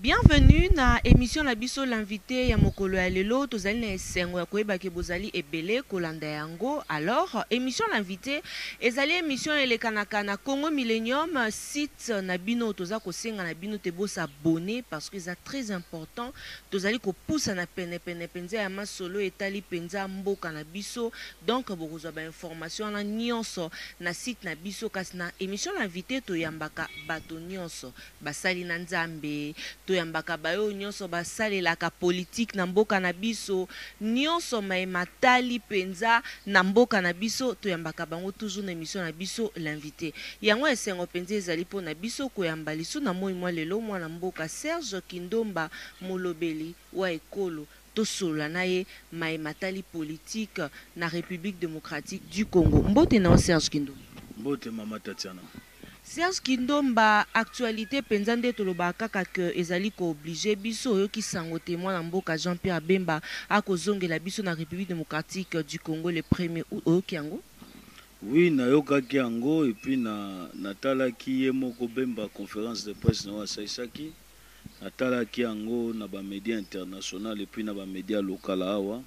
Bienvenue na emission na biso l'invite ya mokolo ya lelo tozali na esengo ya koyeba ke bozali ebele kolanda yango alors emission l'invite ezali emission elekanaka na Congo Millenium site na bino toza kosenga na bino te bo s'abonner parce que eza très important tozali kopusa na pene pene penza ya masolo etali penza mboka na biso donc bokozwa ba information wana nionso na site na biso kasi na emission l'invite toyambaka bato nionso Basali na Nzambe, toyambaka bayo nionso basalelaka politique na mboka na biso, nionso maye matali penza na mboka na biso, toyambaka bango toujours na emission na biso L'invite. Yango esengo penza ezali po na biso koyamba lisu na moyi mwa lelo mwana mboka Serge Kindomba, molobeli wa ekolo, tosolola na ye maye matali politique na Republique Democratique du Congo. Mbote na yo Serge Kindomba. Mbote mama Tatiana. Serge kindomba actualite penza nde tolobaka kaka que ezali ko oblige biso oyoki sango te mwana mboka jean pierre bemba ako zongela biso na republique democratique du congo le premier aout oyoki yango? Oui nayokaki yango et puis na natalaki ye moko bemba conference de presse nayo asaisaki natalaki yango na ba media international et puis na ba media local awa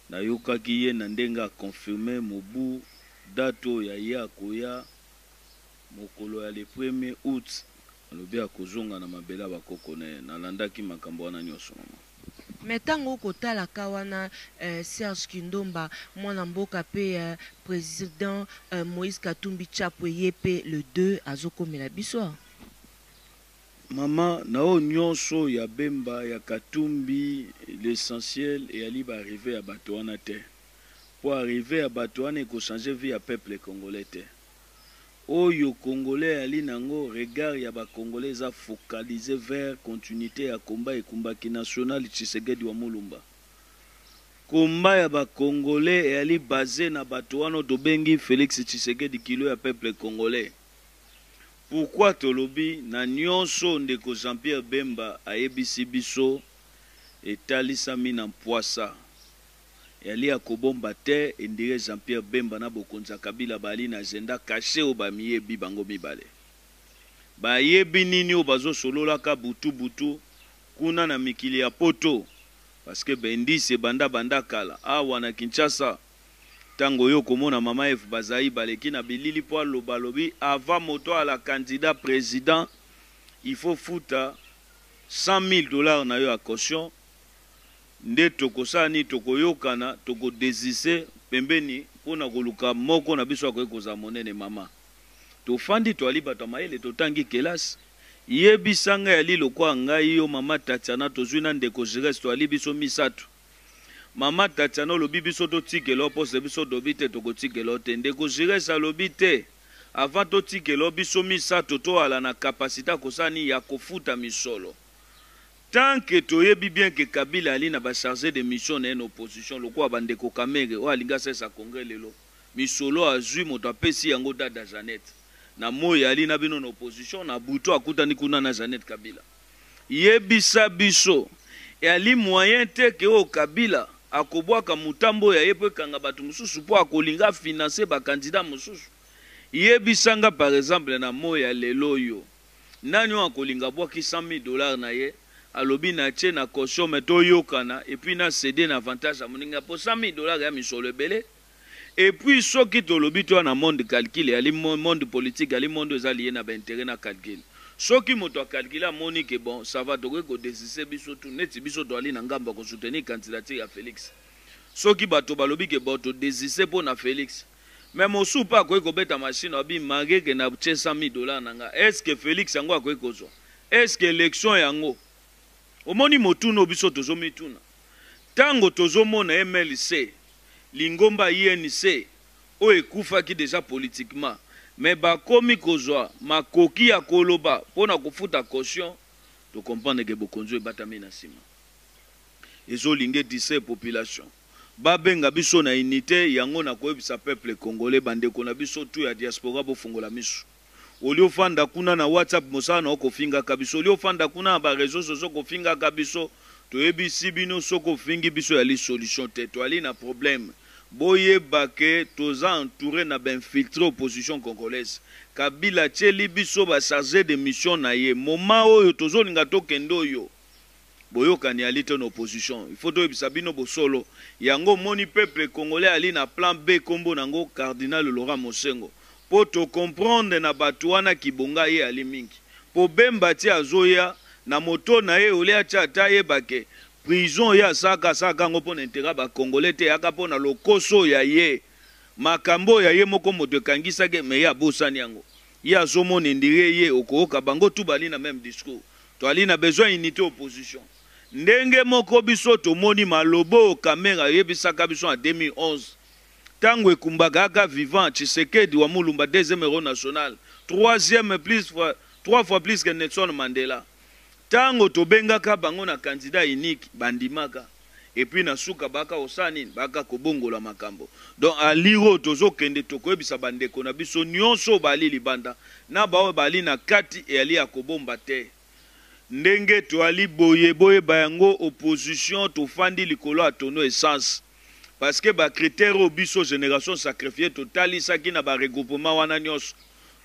nayokaki ye na ndenge a confirme mobu date oyo ya ye akoya Mokolo ya le premier aout, alobi akozonga na mabele ya ba koko na ye. Nalandaki makambo wana nionso, maman. Mais tango oko tala ka wana eh, Serge Kindomba, mwana mboka pe eh, president eh, Moïse Katumbi Chapwe ye pe le deux azo komela biso awa. Maman, na oyo nionso ya Bemba, ya Katumbi, l'essentiel eyali ba arrivees ya bato wana te. po arrive ya batu wana eko change vie ya peuple congolais te oyo congolais ayali nango regard ya ba congolais eza focalise vers continuite ya combat ekumbaki national tshisegedi wa mulumba combat ya ba congolais eyali base na batu wana oyo tobengi felix tshisegedi kilo ya peuple congolais pourquoi tolobi na nionso oyo ndeko jean pierre bemba ayebisi biso etalisami na mpuasa. Yali ya kobomba te endire Jean Pierre Bemba na bokonzi ya Kabila baali na agenda cache oyo bamiyebi bango mibale. Bayebi nini oyo bazo sololaka butu butu kuna na mikili ya poto parce que bendis ebanda banda kala. Awa na Kinshasa tango oye okomona mama Eve Bazaiba aleki na bilili po aloba alobi avant moto aala candidat president il faut futa 100 milles dollars na yo ya caution. Nde tokosala nini? Tokoyokana, toko desister pembeni mpo na koluka moko na biso akoki kozala monene. Mama, tofandi, toali bato ya mayele, totangi kelasi. Yebisa ngai, Ali, lokola ngai, yo, Mama Tatiana, tozui na Ndeko Giresse, toali biso misato. Mama Tatiana, olobi biso totikela yo poste, biso tolobi te, tokotikela yo te. Ndeko Giresse alobi, Te, avant totikela yo, biso misato toala na capacite ya kosala nini? Ya kofuta misolo. Tant que toyebi bien que Kabila ali na ba charges de mission na ye na opposition lokola ba ndeko Kamerhe oyo alingi asalisa Congrès lelo, misolo azui moto apesi yango dada Jeannette. Na moyi ali na bino na opposition, na butu akutani kuna na Jeannette Kabila. Yebisa biso eali moyen te que oyo Kabila akobuaka mutambo ya ye po ekanga batu mosusu po akolinga a financer ba candidats mosusu? Yebisa nga par exemple na moyi ya lelo oyo. Nani oyo akolinga abwaki 100.000 dollars na ye alobi na tie na caution mais to yokana et puis na ceder na avantage ya moninga po 100.000 dollars eya misolo ebele et puis soki tolobi toya na monde calcul eyali monde politique eyali monde oyo eza lie na ba interet na calcul soki moto a calculer amoni que bon ça va tokoki ko desister biso tout neti biso toali na ngambo ya ko soutenir candidature ya Felix soki bato balobi que bon to desister po na Felix Mais mosusu pe akoki kobeta machine alobi mangue ke na tie 100.000 dollars na nga est ce que Felix yango akoki kozua? Est ce que election yango omoni motuna oyo biso tozo mituna tango tozo mona MLC lingomba UNC oyo ekufaki deja politiquement mais bakomi kozua makoki ya koloba pona kofuta caution to comprendre ke bokonzi oyo ebatami na sima ezo linge distraire population. ba benga biso na unite yango na koyebisa peuple congolais ba ndeko na biso tout ya diaspora bo fongola misu au lieu ofanda kuna na WhatsApp mosala na yo kofinga ka biso au lieu ofanda kuna na ba reseaux sociaux kofinga ka biso toyebi si bino soki ofingi biso yali solution te toali na probleme boyeba que toza entoure na ba infiltre opposition congolaise kabila atieli biso ba charge de mission na ye moment oyo tozo linga tokende oyo Boyokani ya lite na opposition il faut toyebisa bino bosolo yango omoni peuple congolais ali na plan B kombo na ngo cardinal Laurent Mosengo po to comprendre na batu wana kibonga ye ali mingi po Bemba ti azoya na moto na ye olie atia ata ayeba ke prison ye asalaka asalaka yango pona interet ya ba congolais te eyaka pona lokoso ya ye makambo oyo ya ye moko moto ekangisaki ye mais ye abosani yango. Ye azo mona indire ye okooka bango tout bali na meme discours toali na besoin unite opposition ndenge moko biso tomoni maloboo kamerhe ayebisaka biso en 2011 tango ekumbaka aka vivant tshisekedi wa mulumba deuxième hero national troisième plus fois trois fois plus que nelson mandela tango tobengaka bango na candidat unique bandimaka et puis na suka baka kosala nini baka kobongola makambo donc a lire oyo tozo kende tokoyebisa ba ndeko na biso nionso oyo bali libanda na ba oyo bali na kati eyali ya kobomba te ndenge toali boye boyeba yango opposition tofandi likolo ya tono essence parce que ba critere oyo biso generation sacrifie totalisaki na ba regroupement wana nionso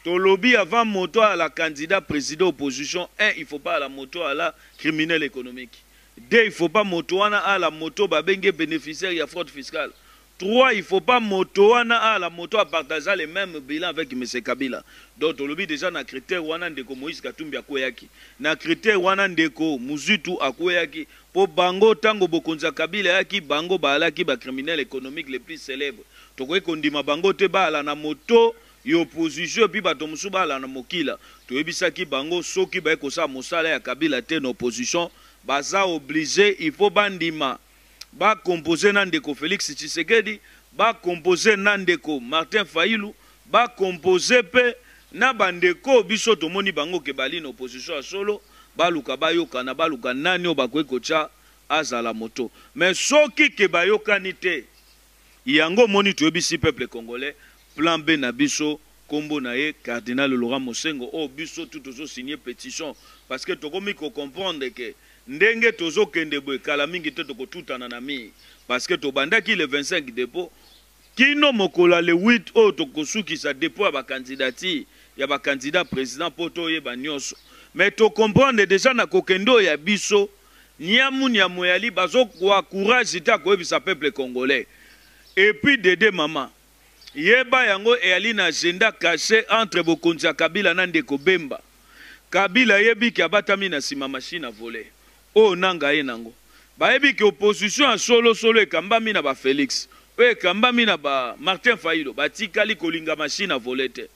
tolobi avant moto ala candidat president opposition un il faut pas ala moto ala criminel economique Deux il faut pas moto wana a la moto ba bengi ye beneficiaire ya fraude fiscale. Trois il faut pas moto wana a la moto a partageant le meme bilan avec monsieur Kabila. Donc tolobi dejà na critère wana ndeko Moïse Katumbi akueyaki. Na critère wana ndeko Muzitu akueyaki po bango tango bokonzi ya Kabila eyaki bango baalaki ba criminels economiques les plus celèbres. Tokoki kondima bango te baala na moto Ya opposition epuis bato mosusu balanda mokila toyebisaki bango soki baye kosala mosala ya kabila te na opposition baza oblige il faut bandima ba compose na ndeko Felix tshisekedi ba compose na ndeko Martin fayilu ba compose pe na ba ndeko oyo biso tomoni bango ke bali na opposition ya solo baluka bayokana baluka nani oyo bakoki kotia azala moto mais soki ke bayokani te Yango omoni toyebisi peuple congolais plan B na biso kombo na ye cardinal Laurent Mosengo oyo biso tout tozo signe petition parce que tokomi ko comprendre que ndenge tozo kende boye kala mingi te toko tutana na mur parce que tobandaki le 25 depot kino mokolo ya le 8 oyo toko sukisa depot ya ba candidature ya ba candidats president po toyeba nioso mais to comprendre dejà na kokende oyo ya biso Niamu niamueali bazo kua courage te ya koyebisa peuple congolais et puis dede maman yeba yango eali na agenda cache entre bokonzi ya kabila na ndeko bemba kabila ayebi ke abatami na sima machine a vole oyo nanga aye nango bayebi ke opposition ya solo solo ekambami na ba felix oyo ekambami na ba martin fayilo batikali kolinga machine a vole te.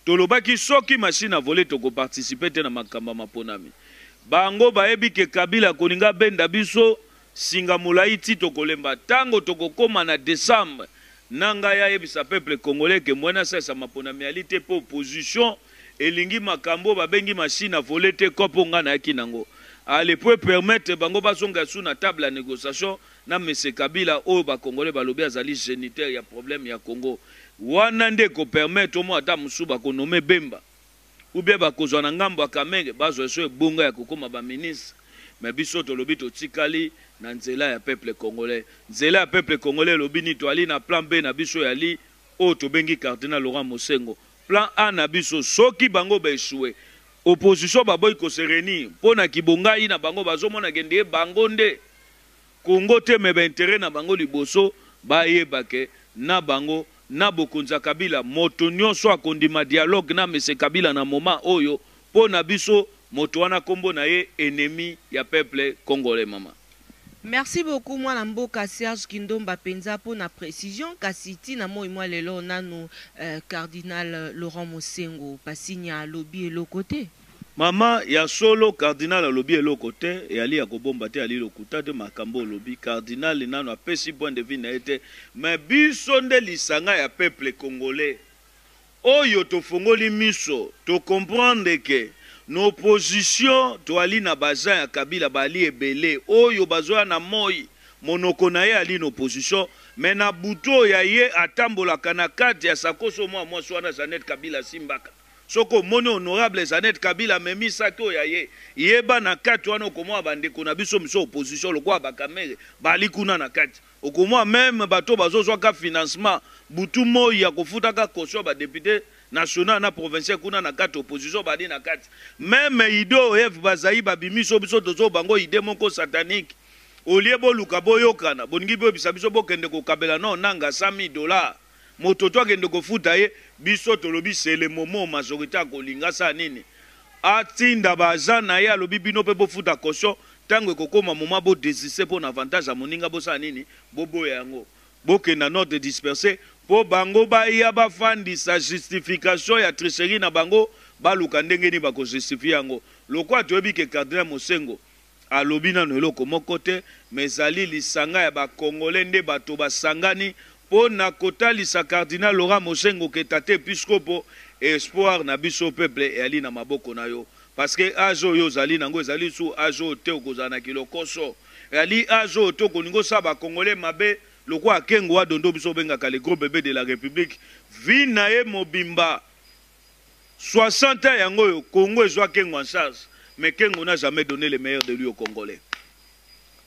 Tolobaki soki machine à voler toko participer te na makambo ya maponami. Bango bayebi que Kabila akolinga abenda biso singa molayi ti tokolemba. Tango tokokoma na decembre, Nangaa ayebisa peuple congolais que Mbuena Sesa maponami eali te mpo opposition elingi makambo oyo babengi machine à voler te coop oyo ngai nayaki nango. Allez, mpo e permettre bango bazongela lisusu na table ya negociation, na monsieur Kabila oyo ba congolais balobi azali geniteur ya problème ya Congo wana nde eko permettre omona ata mosusu bako nommer Bemba ou bien bakozwa na ngambo ya Kamehge bazwa lisusu ebonga ya kokoma ba ministres mais biso tolobi totikali na nzela ya peuple congolais nzela ya peuple congolais elobi nini toali na plan B na biso ya li oyo tobengi cardinal Laurent Mosengo plan A na biso soki bango ba echouer opposition baboyi ko se reunir pona kibongayi na bango bazomona ke nde bango nde Congo te mais ba interet na bango liboso ba yeba que na bango na bokonzi ya kabila moto nioso akondima dialogue na monsieur kabila na moment oyo po na biso moto wana kombo na ye enemi ya peuple congolais maman. Merci beaucoup mwana mboka Serge Kindomba penza po na precision kasi ti na moyi mwa lelo nanu Cardinal Laurent Mosengwo Pasinya alobi eloko te. Maman ya solo cardinal alobi eloko te eali ya kobomba te eali lokuta te makambo olobi cardinal nanu apesi point de vue naye te mais biso nde lisanga ya peuple congolais oyo tofongoli miso to comprendre que na opposition toali na ba gens ya kabila baali ebele oyo bazoya na moyi monoko naye eali na opposition mais na butu oyo ya ye atambolaka na carte ya sakosi oyo mua muasi wana jeannette kabila asimbaka Soki omoni honorable Jeannette Kabila amemi sac oyo ya ye, yeba na kati wana okomona ba ndeko na biso misusu ya opposition lokola ba Kamerhe baali kuna na kati. Okomona meme bato oyo bazo zwa ka financement butu moyi ya kofuta ka caution ya ba deputes nationaux na provinciaux kuna na kati opposition baali na kati. Meme idee oyo Eve Bazaiba abimisi oyo biso tozo banga oyo idee moko satanique. Au lieu boluka boyokana, bolingi boyebisa biso bokende kokabela na Onanga 100.000 dollars. Moto tu akende kofuta ye biso tolobi c'est le moment majorite akolinga asala nini atinda ba agent naye alobi bino pe bofuta caution tango ekokoma moment bo desiste pona avantage ya moninga bosala nini boboya yango bokenda note disperse po bango baya bafandisa justification ya tricherie na bango baluka ndenge nini bako justifier yango lokola toyebi ke cardinal mosengo Alobi nanu eloko moko te mais ezali lisanga ya ba congolais nde bato basangani po na kotalisa cardinal Laurent Moshengo que tata episkopo espoir na biso peuple eali na maboko na yo parce que age oyo ozali na ngo ezali lisusu age oyo te okozala na kilokoso eali age oyo te okolingi osala ba congolais mabe lokola Kengo wa Dondo biso obengaka le gros bebe de la republique vie na ye mobimba 60 ans yango oyo Congo ezua Kengo en charge mais Kengo n'a jamais donne le meilleur de lui au Congolais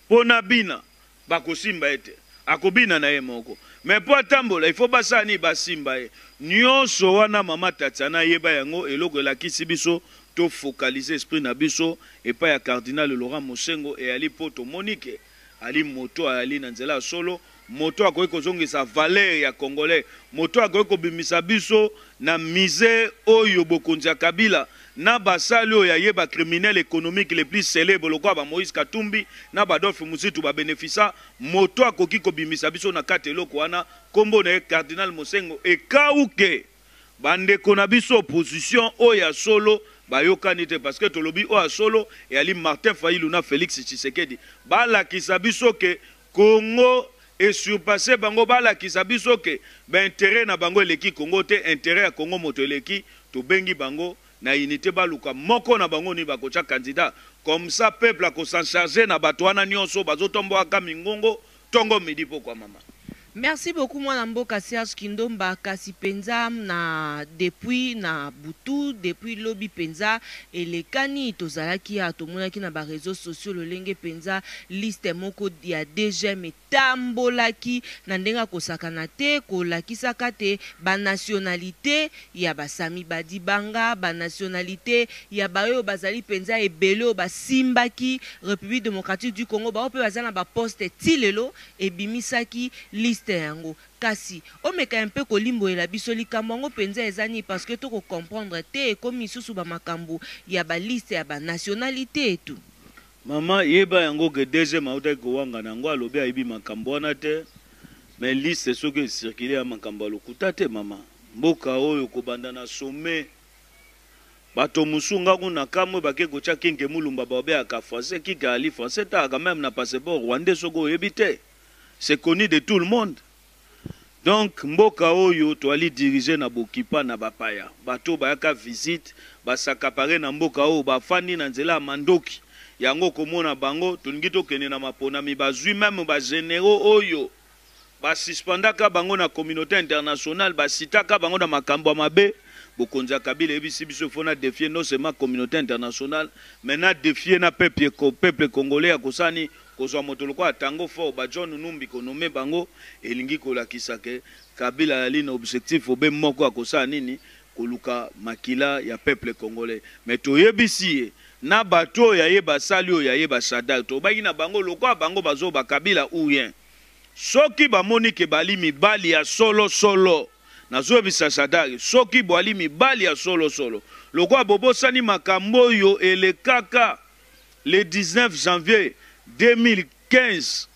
po n'a bina bakosimba ye te akobina na ye moko mais po atambola il faut basala nini basimba ye nionso wana mama Tatiana yeba yango eloko elakisi biso to focaliser esprit na biso epai ya cardinal Laurent Mosengo et Ali po tomoni ke Ali moto ayali na nzela ya solo moto akoki kozongisa valeur ya congolais moto akoki kobimisa biso na misee oyo bokonzi ya kabila na basali oyo ya ye ba criminel economique le plus celebres lokola ba moise katumbi na ba adolphe muzitu ba benefisa moto akoki kobimisa biso na kati eloko wana kombo na ye cardinal mosengo ekawuke Ba ndeko na biso opposition oyo ya solo ba yokani te parce que tolobi oyo ya solo eyali Martin Fayilu na Felix Tshisekedi ba lakisa biso que Congo e surpasser bango ba lakisa biso que ba interet na bango eleki Congo te interet ya Congo moto eleki tobengi bango na unite baluka moko na bango ni bakotia candidat comme ça peuple ako s'en charger na bato wana nionso bazo tomboaka mingongo Tongo midi pokua maman. Merci beaucoup mwana mboka Serge Kindomba kasi penza na depuis na butu depuis lobi penza elekani tozalaki awa tomonaki na ba reseaux sociaux lolenge penza liste moko ya DGM etambolaki na ndenge ya kosakana te kolakisaka te ba nationalites ya Basami, Badibanga, ba nationalites ya baoyo bazali mpenza ebele oyo basimbaki Republique democratique du Congo, baoyo mpe baza na ba postes tii lelo, ebimisaki liste yango. Kasi, omeka mpe kolimbolela biso likambo yango mpenza eza nini parce que to ko comprendre te, ekomi lisusu ba makambo ya ba listes ya ba nationalites tout. Maman yeba yango que DGM awutaki kowangana yango, alobi ayebi makambo wana te, mais liste soki e circuler eza makambo ya lokuta te maman. Mboka oyo kobanda na sommet bato mosusu nga kutu na kamue bake kotia kenke mulumba baobeyaka français kiki ali français talaka meme na passeport rwandais soki oyebi te c'est connu de tout le monde donc mboka oyo toali dirige na bokipa na bapaya bato oyo bayaka visite ba s'accaparer na mboka oyo bafandi na nzela ya mandoki yango okomona bango tolingi tokende na maponami bazui meme ba generaux oyo ba suspendaka bango na communaute internationale ba citaka bango na makambo ya mabe bokonzi ya kabila eyebisi biso il faut na defier non seulement communaute internationale mais na defier na peuple ko peuple congolais ya kosala nini kozwa moto lokola tango fort ba John Numbi ko nommer bango elingi kolakisa que kabila azali na objectif obe moko ya kosala nini koluka makila ya peuple congolais mais toyebisi ye na bato oyo ya ye basali oyo ya ye ba Shadrack tolobaki na bango lokola bango bazoba kabila ou rien Soki bamoni ke bali mibali ya solo solo, nazoyebisa Shadary, soki boali mibali ya solo solo, lokola bobosani makambo oyo elekaka le 19 janvier 2015,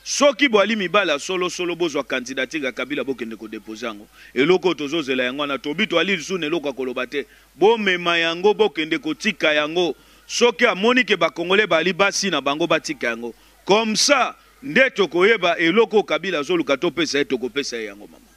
soki boali mibali ya solo solo, bozwa candidature ya Kabila bokende ko deposer yango. Eloko oyo tozozela yango wana, tobi toali lisusu na eloko ya koloba te. Bomema yango bokende kotika yango. Soki amoni ke ba Congolais baali basi na bango, batika yango. Comme ça, Nde tokoyeba eloko oyo kabila azoluka topesa ye tokopesa ye yango maman.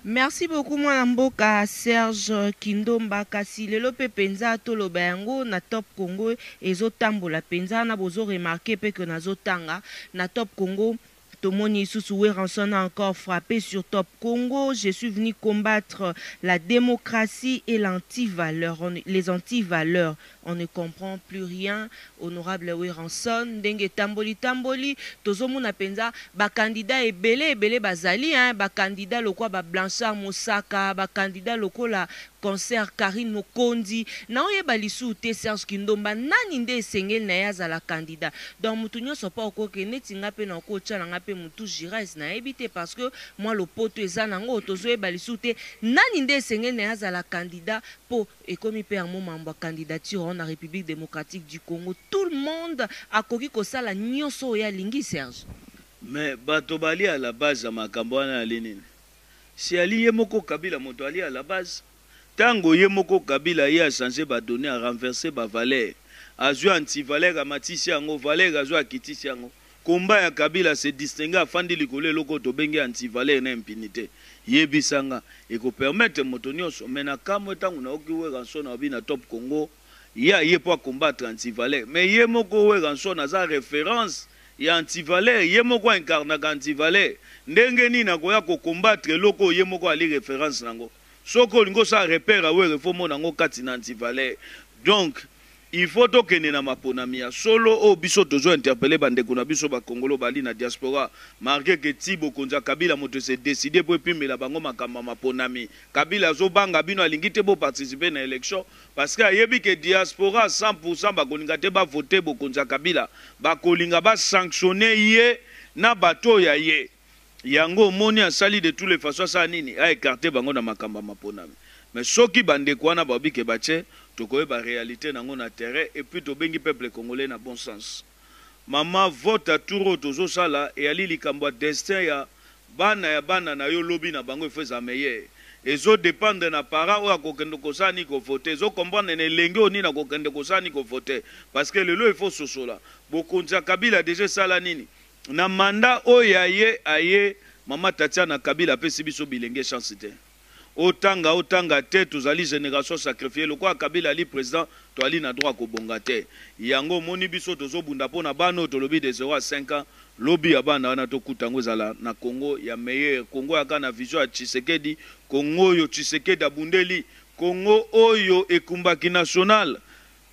Merci beaucoup mwana mboka Serge kindomba kasi lelo pe penza toloba yango na top congo ezo tambola penza na bozo remarque pe que nazo tanga na top congo tomoni lisusu werranson a encore frappe sur top congo je suis venu combattre la democratie et l'anti valeur les anti valeur On ne comprend plus rien honorable Werrason ndenge etamboli tamboli tozo mona penza ba candidats ebele ebele bazali hein ba candidats lokola ba Blanchard Mosaka ba candidats lokola consoeur Carine Mokonzi nao yeba lisusu te Serge Kindomba nani nde esengeli naye azala candidat donc mutu nionso pa oko ke neti nga pe nako tia na nga pe mutu Giresse nayebi te parce que mua lopoto eza nango tozo yeba lisusu te nani nde esengeli naye azala candidat po Ekomi pe yango mambo ya candidature wana na Republique Democratique du Congo tout le monde akoki kosala nioso oyo ye alingi Serge. Mais bato balie à la base ya makambo wana yali nini? Si ali ye moko Kabila moto alie à la base? Tango ye moko Kabila aye a changer ba donnees a renverser ba valeurs azui antivaleur amatisi yango valeur azui akitisi yango Combat ya kabila se distinguer afandi likolo eloko oyo tobengi anti valeur na impunite yebisa nga eko permettre moto nionso mais na kamue tango na yoki werrason alobi na top congo ye aye po a combattre anti valeur mais ye moko werrason aza reference ya anti valeur ye moko a incarnaka anti valeur ndenge nini akoya ko combattre eloko oyo ye moko ali reference nango soki olingi osala repere ya werra il faut omona yango kati na anti valeur donc Il faut tokende na maponami ya solo oyo biso tozo interpelle ba ndeko na biso ba kongolo bali na diaspora marque que tii bokonzi ya kabila moto ese decide po epimbela bango makambo ya maponami kabila azo banga bino alingi te bo participe na election parce que ayebi que diaspora 100 pour 100 bakolinga te ba vote bokonzi ya kabila bakolinga ba sanctionne ye na bato oyo ya ye Yango omoni asali de tout le façon asala nini a ecarte bango na makambo ya maponami mais soki ba ndeko wana babi ke ba ce tokoyeba realite nango na terrain et puis tobengi peuple congolais na bon sens maman vote ya tour oyo tozosala eyali likambo ya destin ya bana ya bana nayo lobi na bango il faut ezala meilleur ezo dependre na parent oyo akokende kosala nini ko vote ezo comprendre na elenge oyo nini akokende kosala nini ko vote parce que lelo il faut ososola bokonzi ya kabila deja esala nini Na mandat oyo ya ye aye maman Tatiana Kabila apesi biso bilenge chance te otanga otanga te tozali generation sacrifier lokola Kabila ali president toali na droit ya kobonga te yango omoni biso tozo bunda pona bana oyo tolobi de zero a cinq ans lobi ya bana wana tokuta yango ezala na Congo ya meilleur Congo ya kaka na vision ya Tshisekedi Congo oyo Tshisekedi abundeli Congo oyo ekumbaki national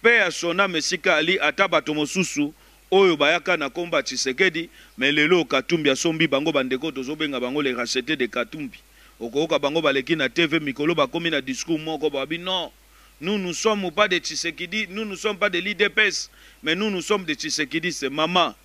Paix à son ame esika ali ata bato mosusu oyo bayaka na kombo ya tshisekedi mais lelo oyo katumbi asombi bango ba ndeko tozo benga bango les rachetes de katumbi okoyoka bango baleki na TV mikolo bakomi na discours moko babi non nous nous sommes pas de tshisekidi nous nous sommes pas de l'udps mais nous nous sommes de tshisekidiste mama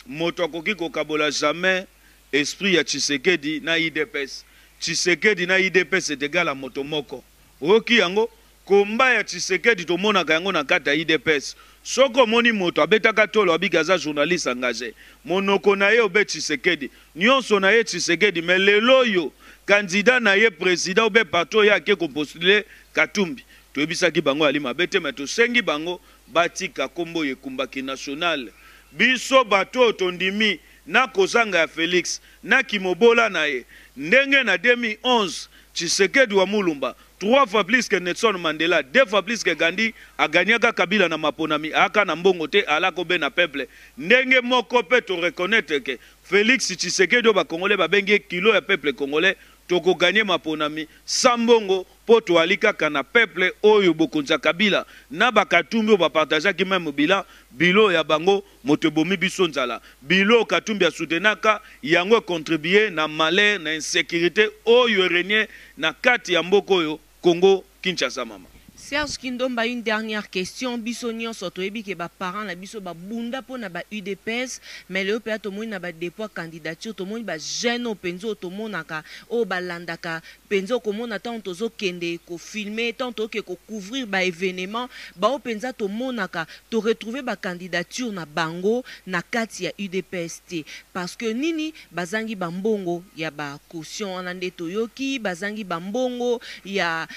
moto akoki kokabola jamais esprit ya tshisekedi na udps tshisekedi na udps est egal à moto moko oyoki yango Combat ya tshisekedi tomonaka yango na kati ya udps soki omoni moto abetaka tolo abiki aza journaliste engage monoko naye obe tshisekedi nionso naye tshisekedi mais lelo oyo candidat naye president obe parti oyo ake ko postule katumbi toyebisaki bango yali mabe te mais tosengi bango batika kombo oyo ekumbaki national biso bato oyo tondimi na kozanga ya felix na kimobola naye ndenge na 2011 tshisekedi wa mulumba Trois fois plus que Nelson Mandela, deux fois plus que Gandhi, a gagnaka Kabila na maponami, aaka na mbongo te, aala ko bena peuple. Ndenge moko pe to reconnaitre que Felix Tshisekedi oyo ba Congolais ba bengi ye kilo ya peuple Congolais, toko gagner maponami sans mbongo po toali kaka na peuple oyo bokonzi ya Kabila na ba Katumbi oyo ba partagaki meme bilan, bilo ya bango. Moto ebomi biso nzala. Bilo katumbi a soutenaka yango e contribue na malheur na insecurite oyo e regne na kati ya mboka oyo Congo Kinshasa mama. Serge Kindomba une dernière question biso nionso toyebi ke ba parents na biso ba bunda pona ba udps mais lelo penza tomoni na ba depots ya candidature tomoni ba jeunes oyo penza oyo tomonaka oyo ba landaka penza okomona tango tozo kende ko filmer tango toke ko couvrir ba evenements bango penza tomonaka to retrouver ba candidatures na bango na kati ya udps te parce que nini bazangi ba mbongo ya ba cautions wana nde toyoki bazangi ba mbongo ya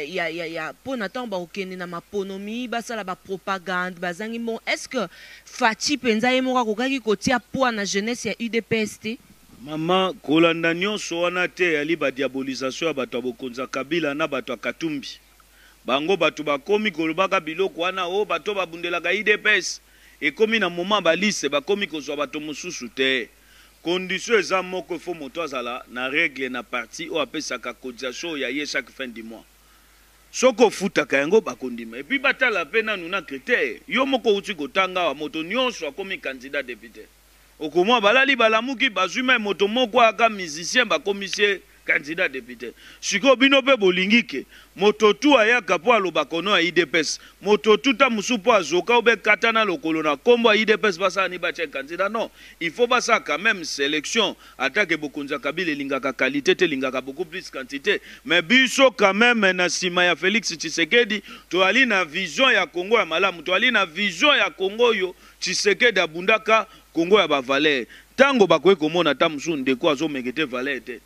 ya ya ya pona tango bako kende na maponomi basala ba propagande bazangi mbongo est ce que Fatshi penza ye moko akokaki kotia poids na jeunesse ya udps te? Maman kolanda nionso wana te eyali ba diabolisation ya batu ya bokonzi ya kabila na batu ya katumbi bango batu bakomi kolobaka biloko wana oh batu oyo babundelaka udps ekomi na moment ba liste bakomi kozua batu mosusu te condition eza moko il faut moto azala na regle na parti oyo apesaka cotisation ya ye chaque fin du mois soki ofutaka yango bakondima epuis batala pe nanu na critere yo moko owuti kotanga awa moto nionso akomi candidat depute. Okomona balali balamuki bazui mai moto moko aka musicien bakomisi ye candidat depute sikoyo bino pe bolingi que moto tout ayaka po alobaka au nom ya udps moto tout tango mosusu po azoka ou bien kata na lokolo na kombo ya udps basala nini batia ye candidat non il faut basala quand meme selection ata que bokonzi ya kabila elingaka qualite te elingaka beaucoup plus quantite mais biso quand meme na sima ya felix tshisekedi toali na vision ya congo ya malamu toali na vision ya congo oyo Tshisekedi abundaka Congo ya ba valeur tango bakoki komona ata mosusu ndeko azo mekete valeur te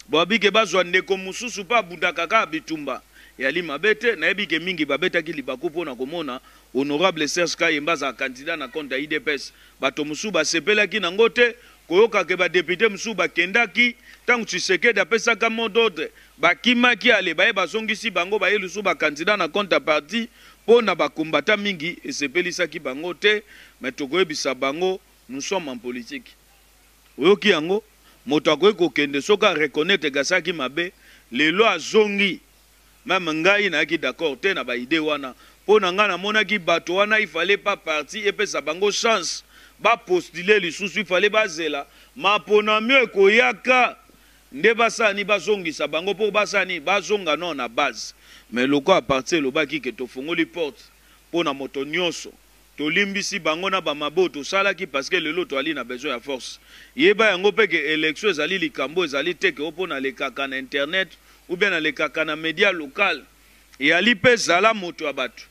babi ke bazua ndeko mosusu po abundaka kaka bitumba yali mabe te nayebi ke mingi babetaki libaku pona komona honorable Serge Kayembe azala candidat na compte ya udps bato mosusu basepelaki nango te koyoka ke ba depute mosusu bakendaki tango Tshisekedi apesaka mot d'ordre bakimaki ale baye bazongisi bango baye lisusu ba candidat na compte ya parti Po na ba combattants mingi esepelisaki bango te mais tokoyebisa bango nous sommes en politique oyoki yango? Moto akoki kokende soki a reconnaitre que asalaki mabe lelo azongi meme ngai nayaki d'accord te na ba idees wana po na ngai namonaki bato wana il fallait pas parti epesa bango chance ba postuler lisusu il fallait bazela ma ponamio ekoyaka Nde ba sala ni ba zongisa bango pour ba sala nini ba zonga nao na base mais lokola partie elobaki que tofongoli porte pona moto nioso tolimbisi bango na ba mabe oyo tosalaki parce que lelo toali na besoin ya force yeba yango pe que election ezali likambo oyo ezali te que opo nalekaka na internet ou bien nalekaka na media local eali pe zala moto ya batu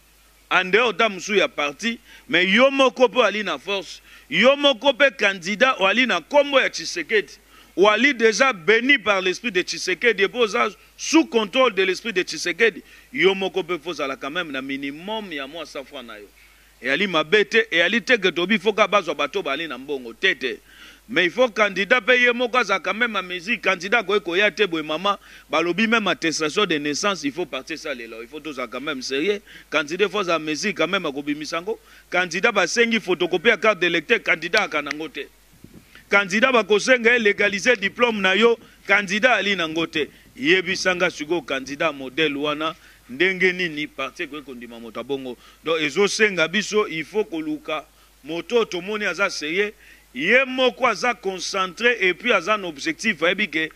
en dehors ta mosusu ya parti mais yo moko pe oali na force yo moko pe candidat oali na kombo ya tshisekedi oali dejà beni par l'esprit de tshisekedi epuis oza sous controle de l'esprit de tshisekedi yo moko pe faut ozala quand meme na minimum ya mua 100 francs nayo eali mabe te eali te que tobi faut kaka bazua bato oyo baali na mbongo te te Mais il faut candidat pe ye moko azalaka meme en mesure, candidat akoki koya te boye maman, balobi meme attestation de naissance il faut partie esalela yo, il faut tozala quand meme serieux, candidat il faut azala en mesure quand meme ya kobimisa yango, candidat basengi photocopie ya carte d'electeur, candidat ayaka na yango te, candidat bakosenga ye legaliser diplome na yo, candidat ayali na yango te, yebisa nga sikoyo candidat ya modèle wana ndenge nini parti ekoki kondima moto ya bongo? Donc ezosenga biso il faut koluka Moto oyo tomoni aza serieux, ye moko aza concentre et puis aza na objectif ayebi que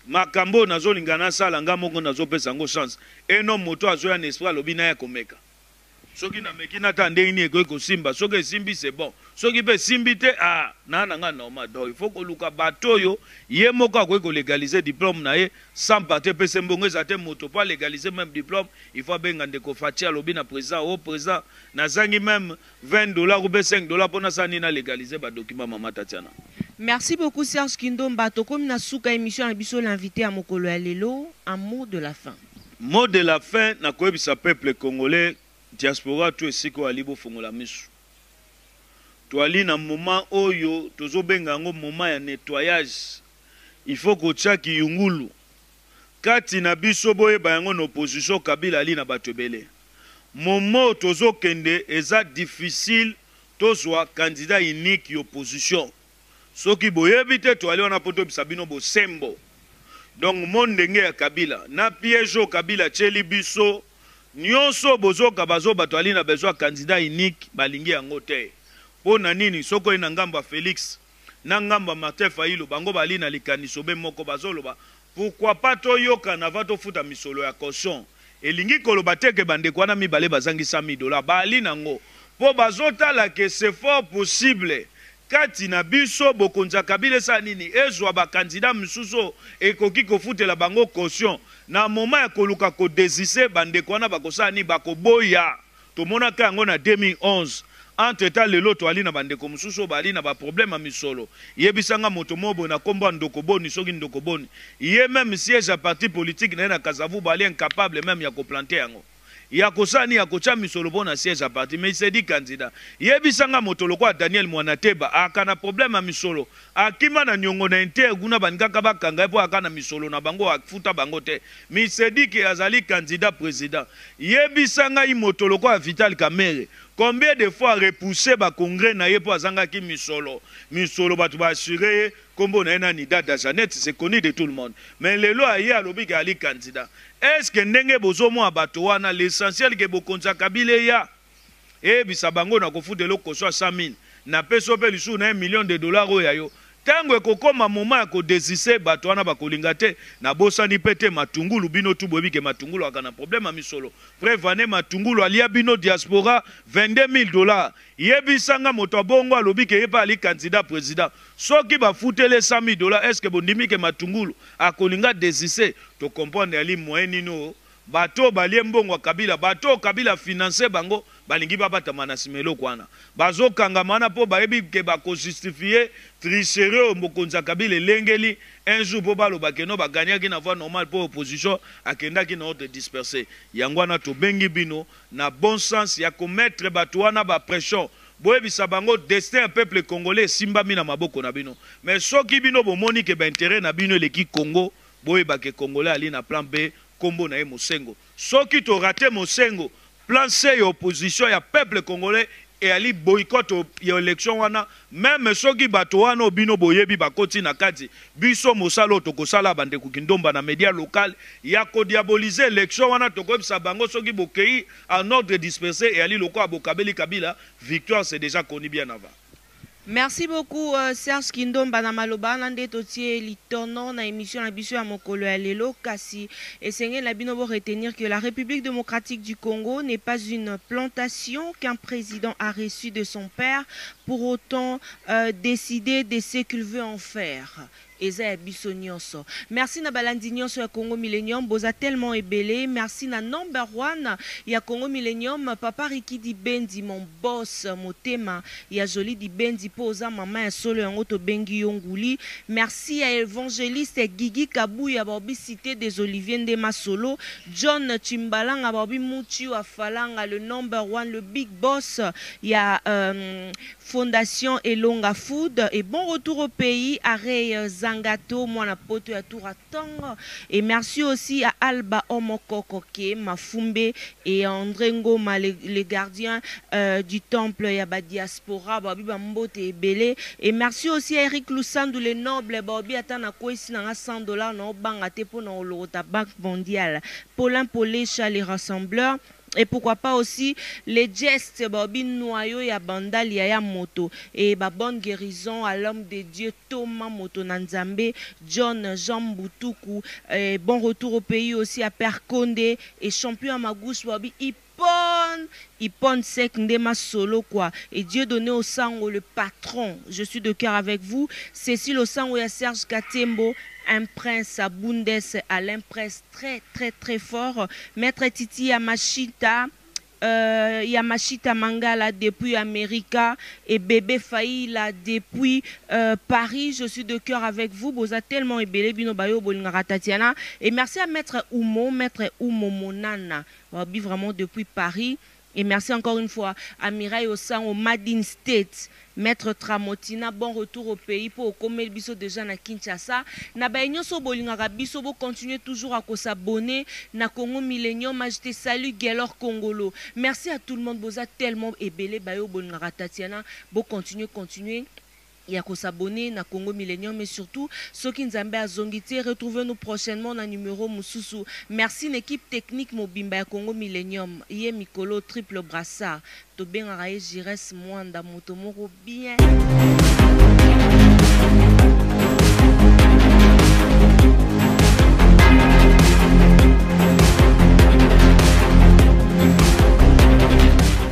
makambo oyo nazo linga nasala nga moko nazo pesa yango chance et non moto oyo azo ya na esprit alobi naya komeka soki na meki natala ndenge nini ekoki kosimba soki esimbi c'est bon soki pe esimbi te aah naya nanga normal donc il faut koluka bato oyo ye moko akoki ko legaliser diplome naye sans parti epesa ye mbongo ezala te moto po a legaliser meme diplome il faut abenga ndeko Fatshi alobi na president oh president nazangi meme 20 dollars ou bien 5 dollars po nasala nini na legaliser ba documents maman Tatiana. Merci beaucoup Serge Kindomba tokomi na suka ya emission na biso l'invite ya mokolo ya lelo un mot de la fin. Mot de la fin na koyebisa peuple congolais diaspora tout esika oyo ali bofongola misu toali na moment oyo tozobenga yango moment ya nettoyage il faut kotia kiyungulu Kati na biso boyeba yango na opposition kabila ali na batu ebele moment tozo kende eza difficile tozua candidat unique y'opposition soki boyebi te toali wana po toyebisa bino bosembo donc mon denge ya kabila na piege oyo kabila atieli biso nionso oyo bozoka bazo batu ali na besoin ya candidat unique balingi yango te po na nini soki oye na ngambo ya felix na ngambo ya Martin Fayulu bango bali na likanisobe moko bazo loba pourquoi pas to yokana avant to futa misolo ya caution elingi koloba te que ba ndeko wana mibale bazangi 100.000 dollars baali nango po bazo tala que c'est fort possible kati na biso bokonzi ya Kabila esala nini ezua ba candidats misusu oyo ekoki kofutela bango caution na moment ya koluka ko desiste ba ndeko wana bakosala nini bakoboya Tomonaka yango na 2011. Entre temps lelo toali na ba ndeko mosusu oyo baali na ba problèmes ya misolo. Yebisa nga moto moko boye na kombo ya Ndoko Boni soki Ndoko Boni. Ye meme siège ya parti politique na ye na Kasavubu ali incapable meme ya ko planter yango. Ya kosala nini? Ya kotia misolo po na siège ya parti mais il se dit candidat. Yebisa nga moto lokola Daniel Muanateba aaka na problème ya misolo Akima na niongo na inter kuna balingaka ba kanga ye po aka na misolo na bango afuta bango te mi sedike azali candidat president ye bisa ngai moto lokola vital kamere combien de fois a repousse ba congres na ye po azanga ki misolo misolo bato ba assure ye kombo na ye nani dada janette c'est connu de tout le monde mais lelo aye alobi ke ali candidat est ce que ndenge bozo mona bato wana l'essentiel ke bokonzi ya kabila eya. eyebisa bango nakofuta eloko kosua 100 mille na pesi yo pe lisusu na un million de dollars oyo ya yo tango ekokoma moment ya ko desiste batu wana bakolinga te na bosani pe te matungulu bino tout boyebi ke matungulu azalaka na problème ya misolo preuve en est matungulu alia bino diaspora 22 mille dollars yebisa nga moto ya bongo alobi ke ye pe azali candidat president soki bafuteli ye 100 mille dollars est ce que bondimi ke matungulu akolinga desiste to comprendre ali moyen nini oyo Bato oyo balie mbongo ya kabila bato oyo kabila a finance bango balingi babatama na sima eloko wana bazo kangama wana po bayebi ke bako justifier tricherie oyo bokonzi ya kabila elengeli un jour po baloba ke non ba gagnaki na voie normale po opposition akendaki na ordre disperse yango wana tobengi bino na bon sens ya ko mettre bato wana ba pression boyebisa bango destin ya peuple congolais esimbami na maboko na bino mais soki bino bomoni ke ba interet na bino eleki congo Boyeba que congolais ali na plan B kombo naye Mosengo. Soki to rate Mosengo, plan C ya opposition ya peuple congolais eali boycott ya election wana meme soki bato wana oyo bino boyebi bakoti na kati. Biso mosala oyo toko sala ya ba ndeko kindomba na media local ya ko diaboliser election wana toko yebisa bango soki bokeyi en ordre disperse eali lokola bokabeli Kabila victoire c'est dejà connu bien avant. Merci beaucoup Serge Kindomba na maloba wana nde totie litono na emission na biso ya mokolo ya lelo kasi esengeli na bino bo retenir que la République démocratique du Congo n'est pas une plantation qu'un président a reçu de son père pour autant euh, décider de ce qu'il veut en faire Eza ya biso nionso. Merci na balandi nionso ya Congo Millenium boza tellement ebele merci na number one ya Congo Millenium papa Ricky Dibendi mon boss motema ya Jolie Dibendi po oza maman ya solo yango tobengi yo nguli merci ya evangeliste Gigi Kabuya baobi cite des oliviers nde masolo John Tshimbalanga baobi mutshiu afalanga le number one le big boss ya euh, Fondation Elonga Food et bon retour au pays à Ray Zangato mwana poto ya tour à tongo et merci aussi à Alba Omo Koko Ke Mafumbe et à Andre Ngoma le, le gardien euh, du temple ya ba diaspora baobi ba mbote ebele et merci aussi à Eric Lusandu le noble baobi ata na kwesi na nga 100 dollars nao banga te pona olokota banque mondiale Paulin Polesha le rassembleur Et pourquoi pas aussi les gestes balobi noyau ya bandal ya ya moto et ba bonne guerison à l'homme de Dieu Toma moto na Nzambe John Jean Mbutuku et bon retour au pays aussi à père Konde et champion ya magus balobi Ippon Ippon Seck nde masolo quoi et Dieudonne Osango le patron je suis de cœur avec vous Cecile Osango ya Serge Katembo un prince à Bundes Alain Prest Très très très fort maitre titi ya mashita Euh, ya mashita mangala depuis america et bebe faila depuis euh, paris je suis de cœur avec vous boza tellement ebele bino bayo bolingaka tatiana et merci à maître umo maître umo monana wabi vraiment depuis paris Et merci encore une fois Amirai Osango made in States Maitre Tramotina bon retour au pays po okomeli biso dejà na Kinshasa na baye nionso oyo bolingaka biso bo continuer toujours à ko s'abonner na Congo Millenium je te salue Guelor Kongolo merci à tout le monde boza tellement ebele baye oyo bolingaka Tatiana bo continuer continuer ya ko s'abonner na Congo Millenium et surtout soki Nzambe azongi te retrouver nous prochainement na numero mususu merci n'equipe technique mobimba ya Congo Millenium ye mikolo triple brassard tobengaka ye Giresse Muanda moto moko bien.